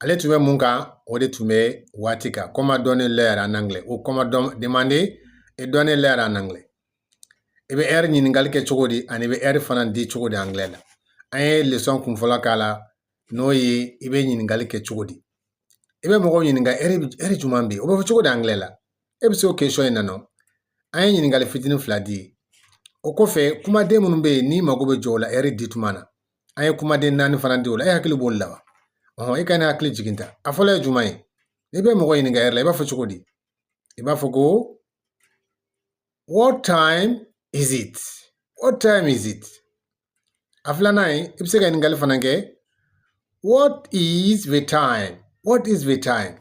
ale tun bɛ mun kan o de tun bɛ waati kan comment donner l'heure en anglais ou comment don demander et donner l'heure en anglais i bɛ ɛri ɲininkali kɛ cogo di ani i bɛ ɛri fana di cogo di anglɛ la an ye lesɔn kun fɔlɔ k'a la n'o ye i bɛ ɲininkali kɛ cogo di i bɛ mɔgɔw ɲininka ɛri ɛri jumɛn bɛ yen o bɛ fɔ cogo di anglɛ la e bɛ se o question in na nɔ an ye ɲininkali fitinin fila di o kɔfɛ kumaden minnu bɛ yen n'i mago bɛ jɔ o la ɛri di tuma na an ye kumaden naani fana di o la e hakili b'o la wa ɔhɔn e ka ne hakili jigin ta a fɔlɔ ye jumɛn ye n'i bɛ mɔgɔ ɲininka ɛri la i b'a fɔ cogo di i b'a fɔ ko what time is it what time is it a filanan ye i bɛ se ka ɲininkali fana kɛ what is the time what is the time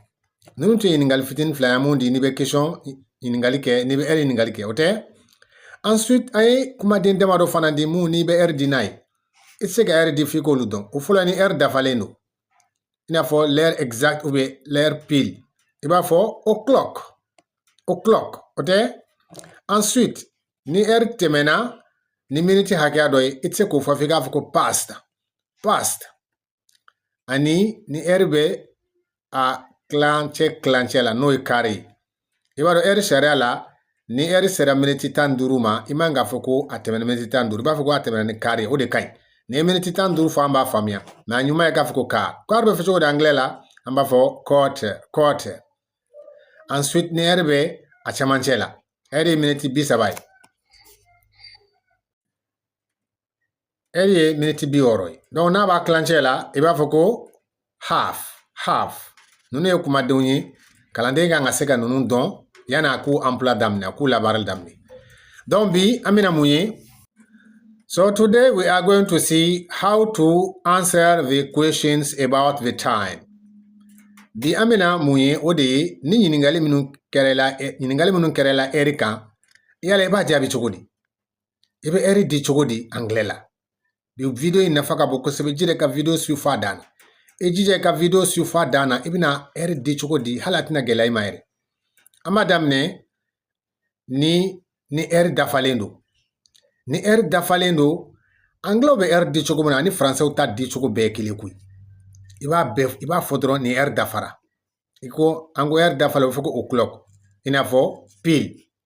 ninnu tun ye ɲininkali fitinin fila ye mun di n'i bɛ question ɲininkali kɛ n'i bɛ ɛri ɲininkali kɛ o tɛ ensuite an ye kumaden damadɔ fana di mun n'i bɛ ɛri di n'a ye i tɛ se ka ɛri di f'i k'olu dɔn o fɔlɔ ni ɛri dafalen don i n'a fɔ l'heure exacte ou bien l'heure pile i b'a fɔ o'clock o'clock o tɛ ensuite ni ɛri tɛmɛna ni miniti hakɛya dɔ ye i tɛ se k'o fɔ f'i k'a fɔ ko past past ani ni ɛri bɛ a kilancɛ kilancɛ la n'o ye quart ye i b'a dɔn ɛri sariya la ni ɛri sera miniti tan ni duuru ma i man k'a fɔ ko a tɛmɛna miniti tan ni duuru i b'a fɔ ko a tɛmɛna ni quart ye o de ka ɲi n'i ye miniti tan ni duuru fɔ an b'a faamuya mais a ɲuman ye k'a fɔ ko quart quart bɛ fɔ cogo di angilɛ la an b'a fɔ quarter quarter ensuite ni ɛri bɛ a cɛmancɛ la ɛri ye miniti bi saba ye ɛri ye miniti bi wɔɔrɔ ye donc n'a b'a kilancɛ la i b'a fɔ ko half half ninnu ye kumadenw ye kalanden kan ka se ka ninnu dɔn yanni a k'u emploi daminɛ a k'u labaarali daminɛ donc bi an bɛna mun ye so today we are going to see how to answer the questions about the time bi an bɛna mun ye o de ye ni ɲininkali minnu kɛra i la ɛri kan yala i b'a jaabi cogo di i bɛ ɛri di cogo di angilɛ la bi video in nafa ka bon kosɛbɛ jija ka video suivre fo a dan na i jija i ka video suivre fo a dan na i bɛna ɛri di cogo di hali a tɛna gɛlɛya i ma yɛrɛ an b'a daminɛ ni ni ɛri dafalen don ni ɛri dafalen don angilɛw bɛ ɛri di cogo min na ani faransɛw ta di cogo bɛɛ kelen koyi i b'a bɛɛ i b'a fɔ dɔrɔn ni ɛri dafara i ko an ko ɛri dafalen o bɛ fɔ ko o'clock i n'a fɔ pile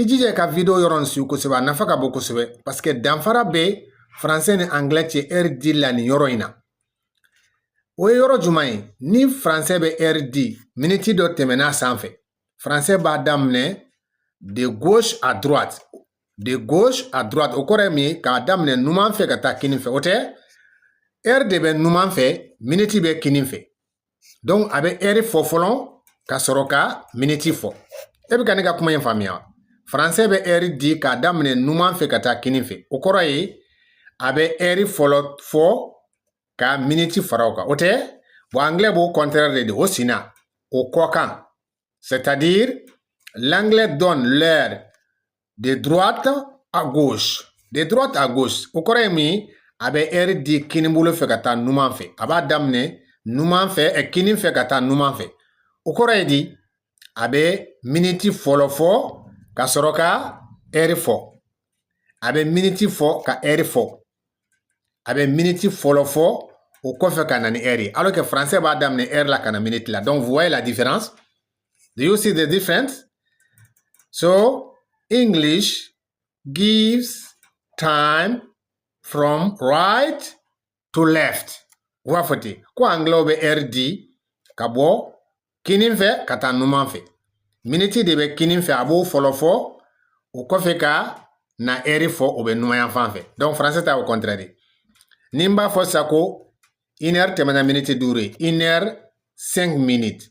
i jija ka video yɔrɔ nin suivre kosɛbɛ a nafa ka bon kosɛbɛ parce que danfara bɛ français ni anglais cɛ ɛri di la nin yɔrɔ in na o ye yɔrɔ jumɛn ye ni français bɛ ɛri di miniti dɔ tɛmɛn'a sanfɛ français b'a daminɛ de gauche à droite de gauche à droite o kɔrɔ ye mun ye k'a daminɛ numan fɛ ka taa kinin fɛ o tɛ ɛri de bɛ numan fɛ miniti bɛ kinin fɛ donc a bɛ ɛri fɔ fɔlɔ ka sɔrɔ ka miniti fɔ e bɛ ka ne ka kuma in faamuya faransɛ bɛ ɛri di k'a daminɛ numan fɛ ka taa kini fɛ o kɔrɔ ye a bɛ ɛri fɔlɔ fɔ ka miniti fara o kan o tɛ bon anglɛ b'o kɔntrɛri de di o sinna o kɔ kan c'est à dire l'anglais donne l'heure de droite à gauche o kɔrɔ ye mun ye a bɛ ɛri di kinibolo fɛ ka taa numan fɛ a b'a daminɛ numan fɛ ɛ kini fɛ ka taa numan fɛ o kɔrɔ ye di a bɛ miniti fɔlɔ fɔ ka sɔrɔ ka ɛri fɔ a bɛ miniti fɔ ka ɛri fɔ a bɛ miniti fɔlɔ fɔ o kɔfɛ ka na ni ɛri ye alors que français b'a daminɛ ɛri la ka na miniti la donc vous voyez la différence Do you see the difference? So English gives time from right to left. O y'a fɔ ten ko anglɛw bɛ ɛri di ka bɔ kinin fɛ ka taa numan fɛ. Miniti de bɛ kinin fɛ a b'o fɔlɔ fɔ o kɔfɛ ka na ɛri fɔ o bɛ numanyan fan fɛ. Donc français ta o contraire de. Ni n b'a fɔ sisan ko une heure tɛmɛna miniti duuru ye une heure cinq minutes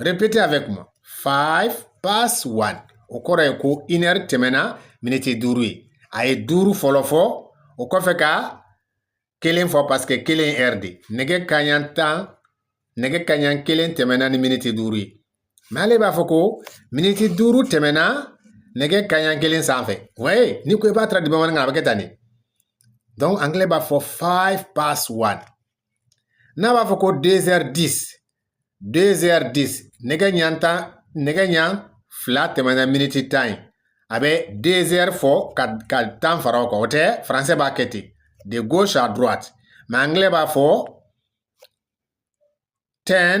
Répétez avec moi. 5 past 1. O kɔrɔ ye ko une heure tɛmɛna miniti duuru ye. A ye duuru fɔlɔ fɔ, o kɔfɛ ka kelen fɔ parce que kelen ye heure de. Nɛgɛ kanɲɛ tan, nɛgɛ kanɲɛ kelen tɛmɛna ni miniti duuru ye. Mɛ ale b'a fɔ ko miniti duuru tɛmɛna nɛgɛ kanɲɛ kelen sanfɛ. Oui, n'i ko i b'a traduire bamanankan na, a bɛ kɛ tan de. Donc, anglais b'a fɔ 5 past 1. n'a b'a fɔ ko deux heures dix deux heures dix nɛgɛ ɲɛ tan nɛgɛ ɲɛ fila tɛmɛna miniti tan ye a bɛ deux heures fɔ ka tan fara o kan o tɛ faransɛ b'a kɛ ten de gauche à droite mɛ angilɛ b'a fɔ ten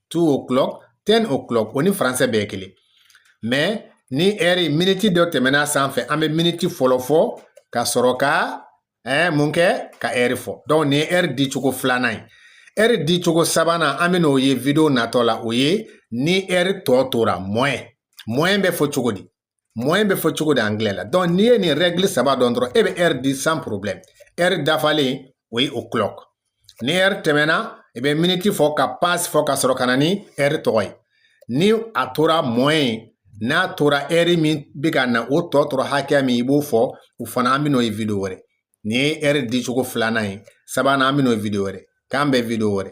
two o'clock ten o'clock o ni faransɛ bɛɛ ye kelen mɛ ni ɛri miniti dɔ tɛmɛna sanfɛ an bɛ miniti fɔlɔ fɔ ka sɔrɔ ka ɛɛ mun kɛ ka ɛri fɔ donc nin ye ɛri di cogo filanan ye ɛri di cogo sabanan an bɛna o ye video natɔ la o ye ni ɛri tɔ tora moins moins bɛ fɔ cogo di moins bɛ fɔ cogo di angilɛ la donc n'i ye nin rɛgili saba dɔn dɔrɔn e bɛ ɛri di sans problème ɛri dafalen o ye o'clock ni ɛri tɛmɛna i bɛ miniti fɔ ka past fɔ ka sɔrɔ ka na ni ɛri tɔgɔ ye ni a tora moins n'a tora ɛri min bɛ ka na o tɔ tora hakɛya min i b'o fɔ o fana an bɛn'o ye video wɛrɛ nin ye ɛri dicogo filanan ye sabanan an bɛn'o ye video wɛrɛ k'an bɛn video wɛrɛ